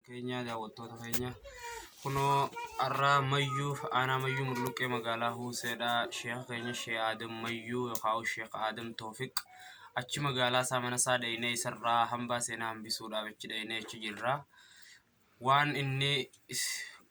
keenya daawwattoota keenya kunoo har'aa mayyuu aanaa mayyuu mulluqqee magaalaa huuseedha sheeka keenya shee aadam mayyuu yookaan sheek aadam toofiq achi magaalaa isaa mana isaa dhaynee isarraa hambaa seenaa hambisuudhaaf achi dhaynee achi jirra waan inni is-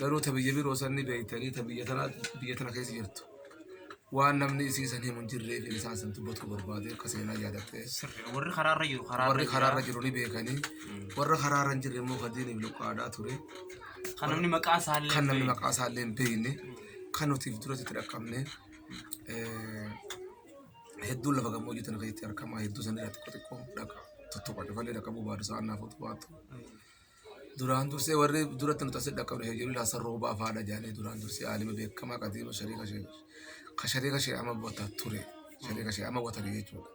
Garuu ta biyya biroo san ni beektanii ta biyya tana biyya tana keessa jirtu. Waan namni isii san himu hin jirreef hin isaan san dubbachuu barbaade akka seenaa yaadattee. Sirri. Warri karaarra jiru karaarra Warri jira. karaarra jiru ni beekanii. Warra karaarra hin jirre immoo kan diiniif luqqaadhaa ture. Kan namni maqaa isaa illee Kan namni beeku. maqaa isaa illee hin beekne. Kan nuti duratti itti dhaqqabne. eh, Hedduun lafa gammoojjii tana keessatti argama. Hedduu san irratti xiqqoo xiqqoo dhaqa. Tuttuqa dhufallee dhaqqabuu baadu sa'aan naaf otu baatu. Duraan dursee warri duratti nu tasee dhaqqabne heeyyuu ilaa san roobaa faadha jaanii duraan dursee aalima beekamaa qadiima shariika shee ka shariika shee ama bota ture shariika shee ama watani jechuudha.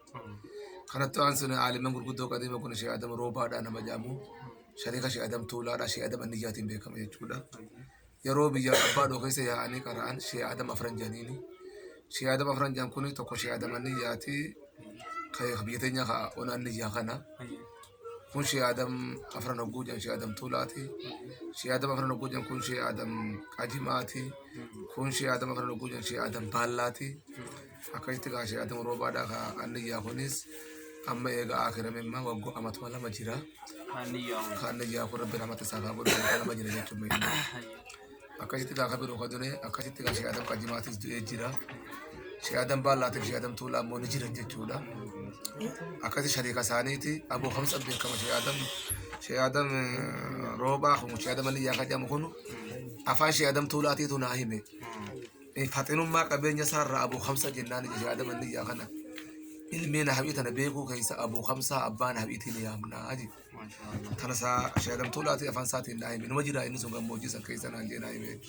Kanatti waan sun aaliman gurguddoo qadiima kun shee adam roobaadha nama jaamu shariika shee adam tuulaadha shee adam anniyyaatiin beekama jechuudha. yeroo biyya abbaa dhoo keessa yaa'anii qara'an shee adam afran janiini shee adam afran jan kuni tokko shee adam anni yaati ka biyya teenya ka onaan ni yaa kana kun shee adam afran hogguu jan shee adam tuulaati shee adam afran hogguu jan kun shee adam qajimaati kun shee adam afran hogguu jan shee adam baallaati akkasitti kaa ishee adamu roobaadhaa kaa anniyyaa kunis amma eega akirame imma waggo amatuma lama jira ka anniyyaa kun rabbi namatti isaa kaa godhu waggaa lama jira jechuun meeqa akkasitti kaa ka biroo ka dune akkasitti kaa ishee adam qajimaatis du'ee jira ishee adam baallaatiif ishee adam tuulaa immoo ni jiran jechuudha akkasi shariika isaaniiti aboo kamsa beekama ishee adam ishee adam roobaa kun ishee adam anniyyaa ka jedhamu kun afaan ishee adam tuulaatiitu naa hime faxinummaa qabeenya isaa irraa abuu kamsa jennaan ija yaadama inni ijaa kana ilmee nahabii tana beekuu keessa abuu kamsaa abbaa nahabiitiin yaamnaa jedhe. Tana isaa shaadamtuu laatii afaan isaatiin naa hime. Numa jira inni sun gammoojjii san keessa naan jee naa hime.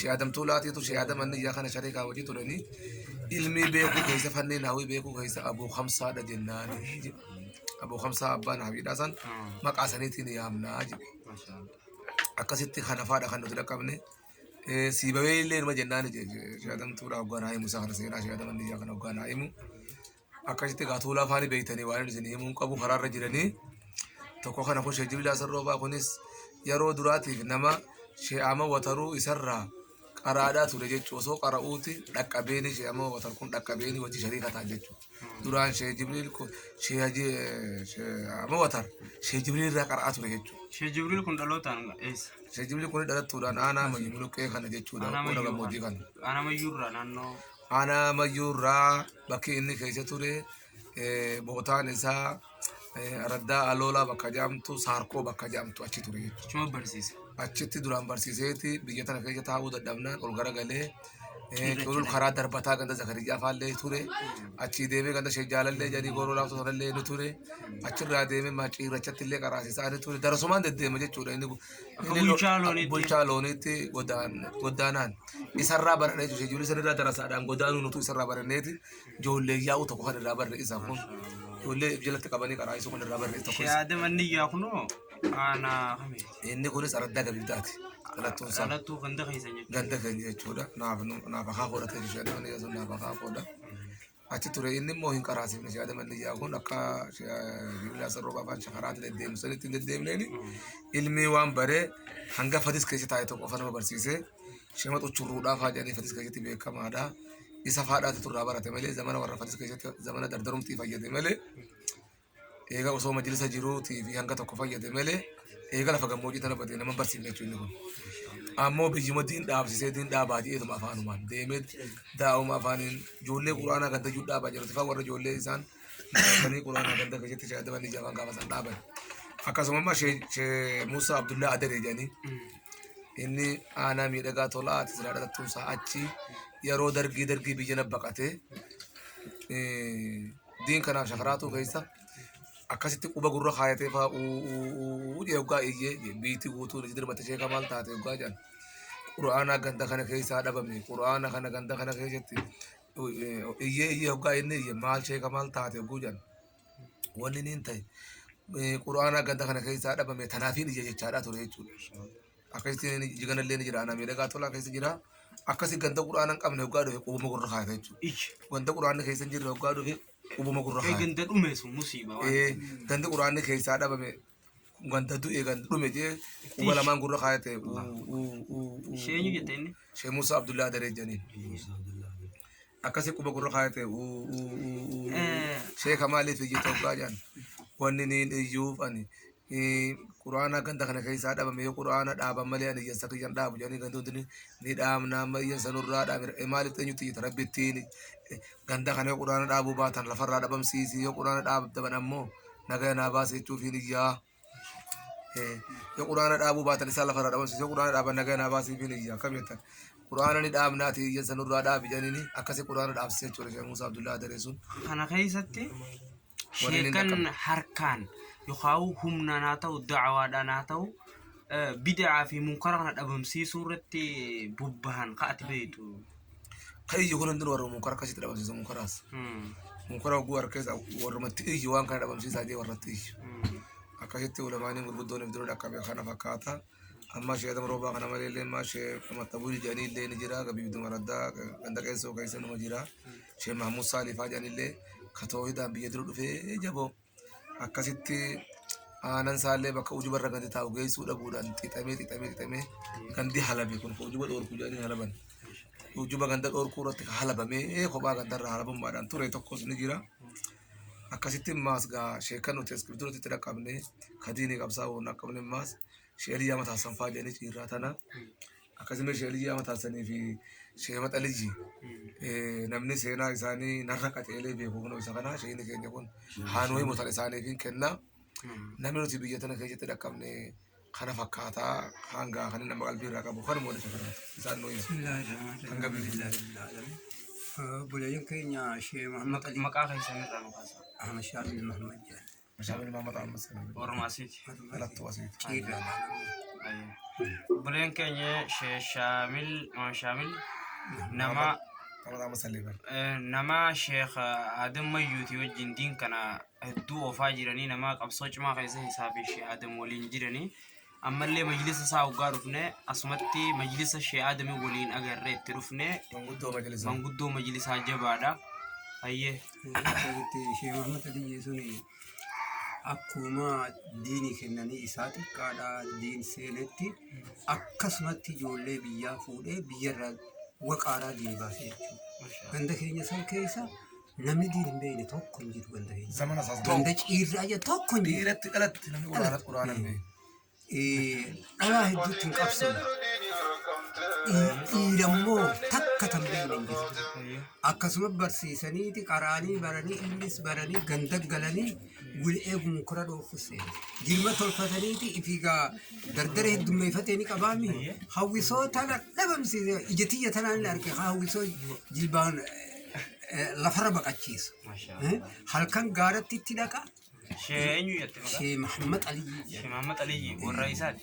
Shaadamtuu laatiitu shaadama inni ijaa kana sharikaa hojii turanii ilmii beekuu keessa fannii naawii beekuu keessa abuu kamsaadha jennaan jedhe. Abuu kamsaa abbaa nahabiidhaa san maqaa saniitiin yaamnaa jedhe. Akkasitti kanafaadha kan nuti dhaqqabne. Sii bahee illee numa jennaan shaatamtuudha hoggaa naa himu isaa kana seenaa shaataman biyyaa kana hoggaa naa himu. Akkasitti egaa tuulaa faani beektanii waan isin himuu hin qabu karaarra jiranii tokko kana kun sheejibillaa sarroobaa kunis yeroo duraatiif nama shee'ama wataruu isarraa qaraadhaa ture jechuudha osoo qara'uuti dhaqqabeeni shee'ama watar kun dhaqqabeeni wajji shariika ta'an jechuudha. duraan shee jibriil kun shee haji amma watar shee jibriil irraa qara'aa ture jechuudha. Shee Jibriil kun dhalootaan eessa? Shee jibriil kun dhalattuudhaan aanaa mayyu muluqqee kana jechuudha. Aanaa Qooda gammoojjii kana. Mayyuu Aanaa Mayyuu irraa naannoo Aanaa mayyuu irraa bakki inni keessa ture eh, bootaan isaa Eh, Araddaa Aloolaa bakka jedhamtu Saarkoo bakka jedhamtu achi ture jechuudha. Chuma barsiisa. Achitti duraan barsiiseeti biyya tana keessa taa'uu dadhabnaan ol garagalee eh, culul karaa darbataa ganda Zakarijaa faallee ture. Achii deemee ganda Sheejjaalallee jedhanii gooroo laaftuu sanallee ni ture. Achirraa deemee maciirrachatti illee qaraasisaa ni ture. Darasumaan deddeema jechuudha. Inni Akka inni lo- bulchaa looniitti. bulchaa looniitti godaan- godaanaan isarraa baranee jechuudha. Ijoollee sanirraa darasaadhaan godaanuu nutu isarraa baraneeti. Ijoollee yaa'uu tokko kan irraa barre isaan kun. Ijoollee jalatti qabanii qaraayisuu kan irraa barre tokko. Shee Adam Anniyyaa kunoo aanaa kami? Inni kunis araddaa gabibdaati. Dhalattuun isaa. Dhalattuu ganda keessa jechuudha. ganda keenya jechuudha. Naaf naaf akaa koodha ta'e ishee adama niyyaa sun naaf akaa koodha. Achi ture inni immoo hin qaraasifne ishee adama niyyaa kun akka bibilaa sarroo baafaan shakaraatti deddeemsanitti hin deddeemneeni ilmi waan baree hanga fadis keessa taa'e tokko qofa nama barsiisee Shematu churruudhaa faa jedhanii fatis keessatti beekamaadha. Isa faadhaatu turraa barate malee zamana warra fatis keessatti zamana dardarumtii fayyade malee eega osoo majlisa jiruutii fi hanga tokko fayyade malee eega lafa gammoojii tana badee nama barsiifne jechuun inni kun. Ammoo biyyuma diin dhaabsisee diin dhaabaa jedheetuma afaanumaan deemee daa'uma afaaniin ijoollee quraanaa ganda iyyuu dhaabaa jirutti faa warra ijoollee isaan dhaabanii quraanaa ganda keessatti shaadamanii jaafan gaafa isaan dhaaban. Akkasuma immoo Shee- Shee Muusaa Abdullaa Adaree jedhanii Inni aanaa miidhagaa tolaa ati silaa dhalattuun isaa achi yeroo dargii dargii biyya na baqatee diin kanaaf shakaraatuu keessa akkasitti quba gurra kaayatee faa uuu jee hoggaa iyyee biitti guutuu ni dirmatte sheeka maal taate hoggaa jedhan qura'aanaa ganda kana keessaa dhabame qura'aana kana ganda kana keessatti iyyee iyyee hoggaa inni iyye maal sheeka maal taate hogguu jedhan Wanni niin ta'e quraanaa ganda kana keessaa dhabame tanaafiin ija jechaadhaa ture jechuudha. Akkasitti iji ganallee ni jira. Anaa miidhagaa tolaa keessa jira. Akkasi ganda quraana hin qabne hoggaa dhufe qubuma gurra kaayata jechuudha. Iji. Ganda quraanni keessa hin jirre hoggaa dhufe qubuma gurra kaayata. Ganda dhumeesu musiiba. Gandi quraanni keessaa dhabame Ganda du'e ganda dhume jee quba lamaan gurra kaayate. Sheenyu jette inni. Shee Musa Abdullah Daree janiin. Akkasi quba gurra kaayate. Eh. Shee Kamaaliif iyyuu toggaa jaan. Wanni niin iyyuuf ani. eh, Quraana ganda kana keessaa dhabame yoo quraana dhaaban malee ani iyyasa kiyyan dhaabu jedhanii ganda hundi ni- ni dhaabna amma iyyasa nurraa dhaabira Eh, maaliif eenyutti iyyata rabbittiin eh, ganda kana yoo quraana dhaabuu baatan lafarraa dhabamsiisi yoo quraana dhaabdaban ammoo nagaya naa baasi jechuufiin iyyaa yoo quraana dhaabuu baatan isaa lafarraa dhabamsiisu yoo quraana dhaaban nagaya naa baasiifiin iyya akkam jettan quraana ni dhaabnaati iyya sanurraa dhaabi jedhaniini akkasi quraana dhaabsise jechuudha sheekh Muusaa Abdullaa Adaree sun kana keessatti Waliin hin sheekan dhaqqabne. harkaan yookaan humnaan haa ta'u da'awaadhaan haa ta'u eh, bid'aa fi munkara kana dhabamsiisuu irratti bobbahan ka'ati beektu ka iyyu kun hundinuu warra munkara akkasitti dhabamsiisa munkaraas munkara oguu harkeessa warrumatti iyyu waan kana dhabamsiisaa jee warratti iyyu akkasitti ulamaaniin gurguddoon ibduruu dhaqqabe kana fakkaata amma shee adam roobaa kana malee illee amma shee maxxabuu jedhanii illee ni jira gabiibdu maraddaa ganda qeessoo keessa numa jira shee mahmud saalifaa jedhan illee ka toohidaan biyya dura dhufee jaboo akkasitti aanan isaallee bakka ujuba irra gadi taa'u geessuu dhabuudhaan xixamee xixamee xixamee gandi halabe kun ujuba dhoorku jedhanii halaban ujuba ganda dhoorkuu irratti halabamee kophaa ganda irraa halabummaadhaan ture tokkos ni jira. Akkasitti maas gaa sheekan nuti eskibituutti itti dhaqqabne kadiini qabsaa'uu hin dhaqqabne maas Sheeliyyaa mataassan faa jedhanii ciirraa tana. Akkasuma sheeliyyaa mataassanii fi sheema xalijji namni seenaa isaanii narra qaxeelee beeku kunoo isa kana sheeni keenya kun haanuu himu tan isaaniif hin kenna. Namni nuti biyya tana keessatti dhaqqabne kana fakkaataa hangaa kan nama qalbii irraa qabu kanuma walitti fudhata. Isaan nuu ibsu. Hanga biyya. Bulayeen keenya Shee Mahammed Maqaa keessan irraa nu kaasa. Ahmed Shaamil Mahammed jedhama. Shaamil Maamad Ammas kana bira. Warruma asiiti. Dhalattuu asiiti. Ciirra. Buleen keenya Shee Shaamil Maam Shaamil nama Maamad Ammas illee bara. eh, nama Sheekh Adam Mayyuuti wajjin diin kana hedduu oofaa jiranii nama qabsoo cimaa keessa isaa fi Sheekh Adam waliin jiranii ammallee majlisa isaa hoggaa dhufne asumatti majlisa shee aadamii waliin agarree itti dhufne Manguddoo majlisaa. manguddoo majlisaa jabaadha hayyee Asitti ishee Muhammad Aliyyee suni akkuma diini kennanii isaa xiqqaadhaa diin seenetti akkasumatti ijoollee biyyaa fuudhee biyyarraa waqaaraa diini baasee jechuudha. Ganda keenya san keessa Namni diin hin beekne tokko hin jiru ganda keenya. Zamana isaas Ganda ciirraa jedhu tokko hin jiru. dhiiratti dhalatti namni quraana quraana hin beeku. Eh, Dhalaa hedduutti hin qabsoofne. Dhii- Dhiirammoo takka tan beekne hin jiru. Akkasuma barsiisaniiti qaraanii baranii innis baranii ganda galanii wal eeguma kora dhoofus jirma tolfataniiti ifiigaa dardara heddummeeffatee ni qabaami hawwisoo tana dhabamsiise ija tiyya tanaan ni arge haa hawwisoo jilbaan eh, lafarra baqachiisu Eh, halkan gaaratti itti dhaqa Shee eenyu jette maqaa? Shee Mahammad Aliyyi Shee Mahammad Aliyyi warra isaati.